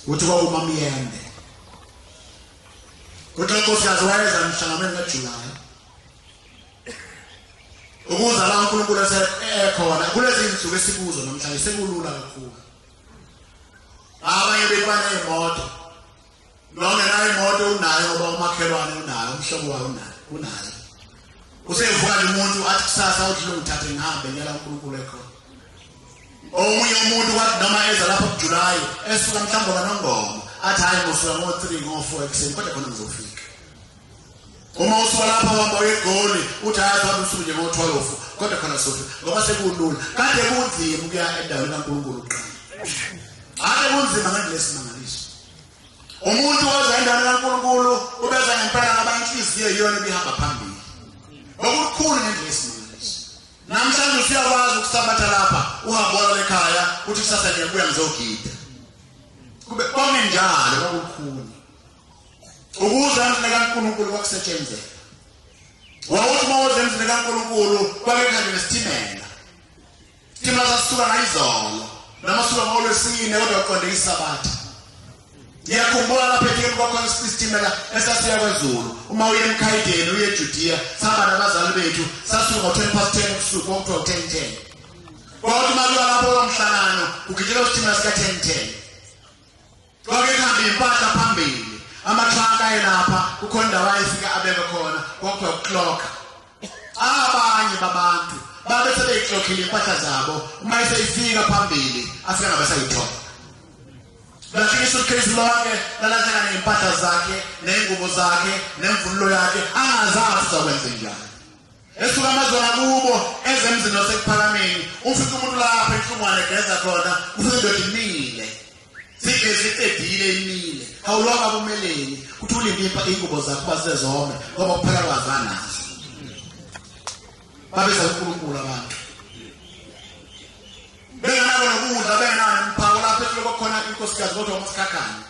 uthi kwakumamyende kuthi unkosikazi wayeza emhlanganweni kajulayi ukuza la unkulunkulu esekhona kulezi nsuku esikuzo namhlanje sekulula kakhulu abanye bekubaney'moto Nongenayo imoto unayo oba umakhelwane unayo umhlobo wayo unayo unayo. Usevuka nje umuntu athi kusasa uthi lo ngithathe ngihambe ngiyala uNkulunkulu ekhona. Omunye umuntu wathi noma eza lapha kuJulayi esuka mhlawumbe kanongoma athi hayi ngosuka ngo-3 ngo-4 ekuseni kodwa khona ngizofika. Uma usuka lapha uhamba egoli uthi hayi phambi usuku nje ngo-12 kodwa khona sofi ngoba sekulula kade kunzima ukuya endaweni kaNkulunkulu uqala. Ake kunzima ngalesi mangaliso. umuntu oza endaweni kaNkulunkulu ubeza ngempela ngabanye inhliziyo iyona ebihamba phambili okukhulu ngendlela esimangaliso namhlanje usuyakwazi ukusabatha lapha uhambe wala ekhaya uthi kusasa ngiyabuya ngizogida kube konke njalo kwakukhulu ukuza emzini kaNkulunkulu kwakusetshenzela wawuthi uma uze emzini kaNkulunkulu kwakekhange nesithimela Thina sasuka ngayizolo noma suka ngolwesine kodwa uqonde isabatha. Ngiyakhumbula lapha ekhaya kwakhona isitimela esasiya kwaZulu. Uma uye emkhayideni uye eJudiya, sihamba nabazali bethu, sasuka ngo-10 past 10 ubusuku okuthiwa u-10 10. Kodwa uma kuya lapho kwamhlangano, kugijela isitimela sika-10 10. Kwakuyihamba impahla phambili amatruck ayelapha kukhona indawo ayefika abeke khona kwakuthiwa kuklokha abanye babantu babe sebeyiklokhile impahla zabo uma iseyifika phambili afika ngabe sayithola lahlika isuitcase lonke lalahleka ney'mpahla zakhe ney'ngubo zakhe nemvunulo yakhe angazazi uzakwenze njani esuka amazwe ngakubo eze emzini osekuphakameni ufike umuntu lapha enhlungwane egeza khona ufike indoda imile sigeze iqedile imile awulwanga kumeleni kuthi ulimpimpa iy'ngubo zakho basezome ngoba kuphela kwazanazo babeza unkulunkulu abantu benganako nokudla bengenako nomphako lapho ehloko khona inkosikazi kodwa umasikhakhane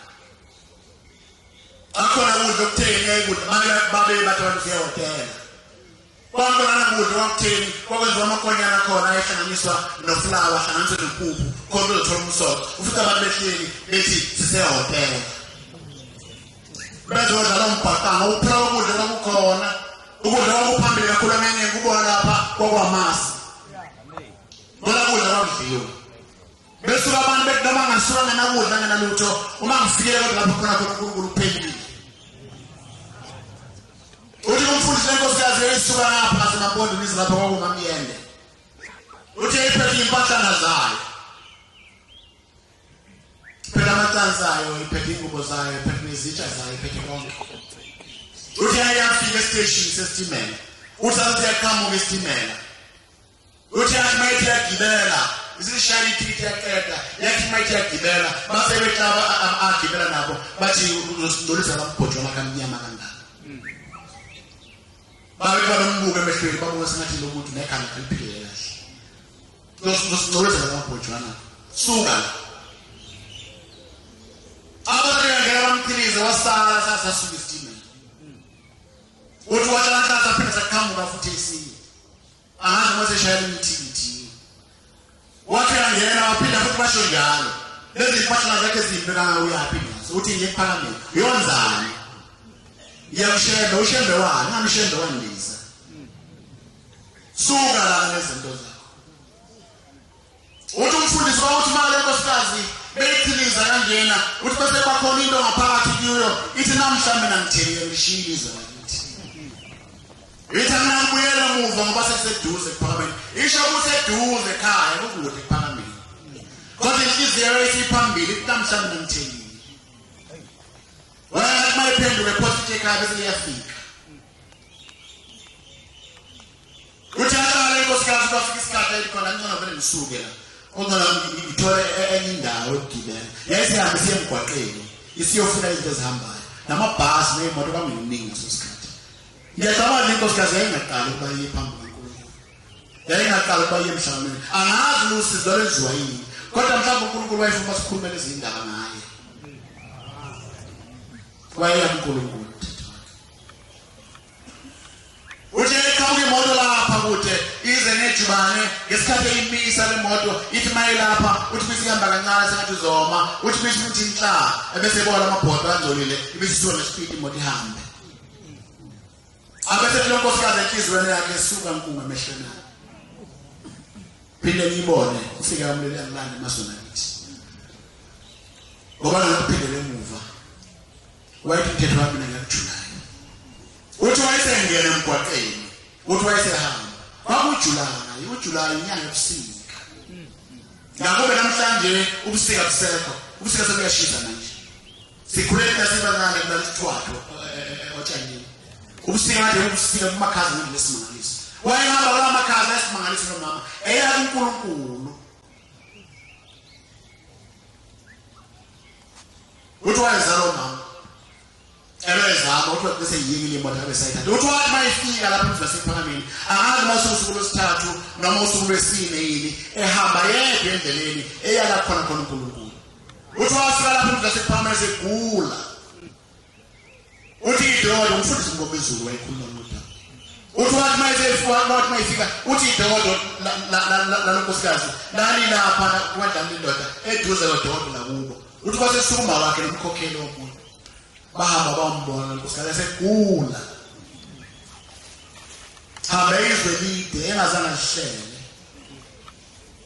Akhona ukudla okutheni ngeke kudla manje babe bathi abantu siyahotela. Kwakhona ukudla kwakutheni kwakwenziwa amakonyana khona ayehlanganiswa nofulawa ahlanganiswe nempuphu khona uzothola umsoco. Ufica abantu behleli bethi sisehotela. Bezodla lo mbhaqanga uphela ukudla kwakukhona ukudla kwakuphambili kakhulu amenye kubona lapha kwakwamasi. Ngoba kudla kwakudliwa. Besuka abantu bethi noma ngasuka ngenakudla ngenalutho uma ngifikile kodwa lapho khona khona uNkulunkulu uphelile. Uthi kumfundisi lenkosikazi eyisuka lapha ngasemabondini ize lapha kwakungamyende. Uthi yayiphethe impahlana zayo. Phela amacansi ayo, iphethe ingubo zayo, iphethe nezitsha zayo, iphethe konke. Uthi yayafika esiteshini sesitimela. Uthi athi yaqhamuka isitimela. uthi yathi uma ithi yagibela isishaya ithithi yaqeda yathi uma ithi yagibela base behlaba agibela nabo bathi uzosingcolisa bambhojo makamnyama kangaka babe banombuka emehlweni babona sengathi lo muntu nekhanda eliphile kahle uzosingcolisa bambhojwana suka la abantu yangena bamphilize wasala sasasuka isitimela uthi watshala nhlahla phela saqhamuka futhi esinye Angazi uma seshayela imithikithiyo. Wathi angena waphila futhi basho njalo. Lezi zimpahla zakhe zimbi kangaka uyaphi ngazo. Uthi nje ephakameni. Uyonzani? Ngiyamshembe, ushembe wani? Ngamshembe wandiza. Suka la nezinto zakho. Uthi umfundisi wawuthi uma le nkosikazi beyiphiliza kanjena uthi bese kwakhona into ngaphakathi kuyo ithi namhla mina ngithenge ngishiyile izwe lakithi ithi mina ngibuyela muva ngoba sekuseduze kuphakameni isho kuseduze ekhaya kukude kuphakameni kodwa inhliziyo isiphambili ithi namhla mina ngithengile wena uma iphenduke phosa ithi ekhaya bese liyafika Uthi alala inkosikazi kwafika isikhathi elikhona ngicela vele ngisuke la. Kodwa nami ngithole e-, enye indawo yokugibela. Yayisihambe siye emgwaqeni isiyofuna izinto ezihambayo. Namabhasi neyimoto kwakunginingi ngaso sikhathi. Ngiyacabanga ukuthi inkosikazi yayingaqali ukuba iye phambi kwaNkulunkulu. Yayingaqali ukuba iye emhlanganweni. Angazi usizo lenziwa yini. Kodwa mhlawumbe uNkulunkulu wayefuna sikhulumele izindaba ngaye. Wayeyamkhulumkhulu. Uthe iqhamuke imoto lapha kude ize nejubane ngesikhathi eyimisa le moto ithi mayelapha uthi bese ihamba kancane sengathi uzoma uthi bese ukuthi inhla ebese ebona amabhodo angcolile ibese isona nesipidi imoto ihambe abese kulo nkosikazi enhliziyweni yakhe esuka nkunga emehlweni akhe phinde ngiyibone ufike amlele angilande masona ngithi ngoba ngikuphindele emuva Wayethi umthetho wami mina ngikujunayo. Uthi wayesengena emgwaqeni. Uthi wayesehamba. Kwakujulayo, ujulayo inyanga ebusika. Ngakube namhlanje ubusika busekho. Ubusika sekuyashisa manje. Sikhulele nasebancane kulalithiwayo eh, eh, eh, otshanini. Ubusika kade ubusika kumakhaza ngesimangaliso. Wayehamba kula makhaza esimangaliso nomama. Eya kuNkulunkulu. Uthi wayezala umama. Ebezama uthi bese yiyekile imoto abe sayithatha. Uthi wathi mayifika lapha emva sephakameni. Angazi mase usuku lwesithathu noma usuku lwesine yini ehamba yedwa endleleni eyala khona khona uNkulunkulu. Uthi wafika lapha emva sephakameni segula. uthi idokodo umfundisi ngomezulu wayekhuluma nodaba uthi wathi mayesefuwathi mayefika uthi idokodo lalonkosikazi lalilapha kwadlala indoda eduze lodokodo lakubo uthi kwasesukuma wakhe nomkhokheli womuntu bahamba bambona nkosikazi esegula hambe izwe lide engazange lihlele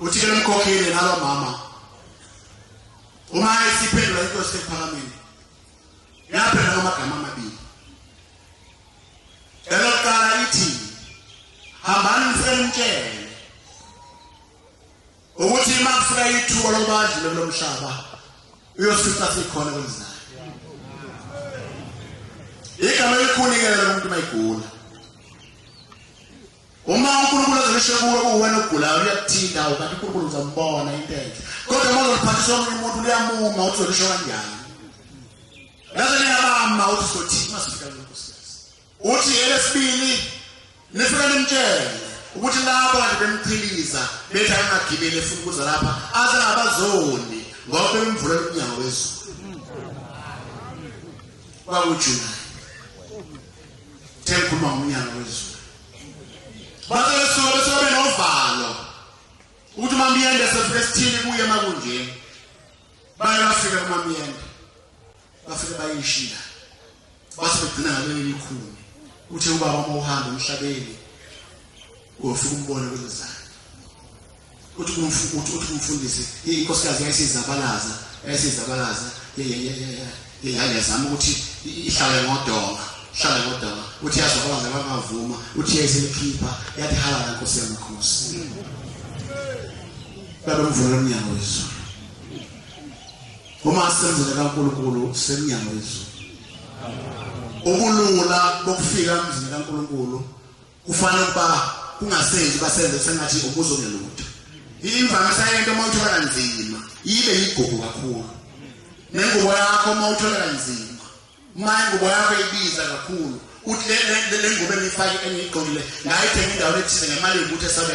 uthi lemkhokhile nalo mama uma isiphendula into siphakamile yaphela amagama amabili elokuqala ithi hambani nisemtshele ukuthi uma kufika ithuba lokuba adlule kulo mhlaba uyosifa sikhona kwenzayo igama elikhunikela lomuntu uma igula uma unkulunkulu ezolisho kuwe uwena ogulayo liyakuthinta awu kanti unkulunkulu uzombona into enhle kodwa uma uzoliphathisa omunye umuntu liyamuma ukuthi uzolisho kanjani ngaze liyabama ukuthi uzothini uma sifika Uthi elesibili nifike nimtshele ukuthi labo kade bemchiliza bethi angagibeli efuna ukuza lapha aze ngabazoni ngoba bemvula umnyango wezulu kwakujulayi tengikhuluma ngomnyango wezulu bathe besuke besuke benovalo ukuthi umamyende sefike esithini kuye makunjeni baye bafike kumamyende bafike bayishiya Bathi begcina ngakwenye imikhuni. Uthe ubaba uma uhamba emhlabeni uyofika umbone kwenzani. Uthi kumfuthi uthi kumfundisi inkosikazi yayisizabalaza yayisizabalaza yayazama ukuthi ihlale ngodonga hlala ngodonga uthi yazi kwabange bangavuma uthi yayiselikhipha yathi halala nkosi yamakhosi babemvula umnyango wezulu Uma senzele kaNkulunkulu semnyango wezulu. Ubulula bokufika emzini kaNkulunkulu kufanele ukuba kungasenzi basenze sengathi ubuzo ngelutho. Imvamisa yento uma uthola kanzima ibe yigugu kakhulu. Nengubo yakho uma uthola kanzima uma ingubo yakho ibiza kakhulu uthi le ngubo engiyifake engiyigqokile ngayithenga indawo ethile ngemali yokuthi esabela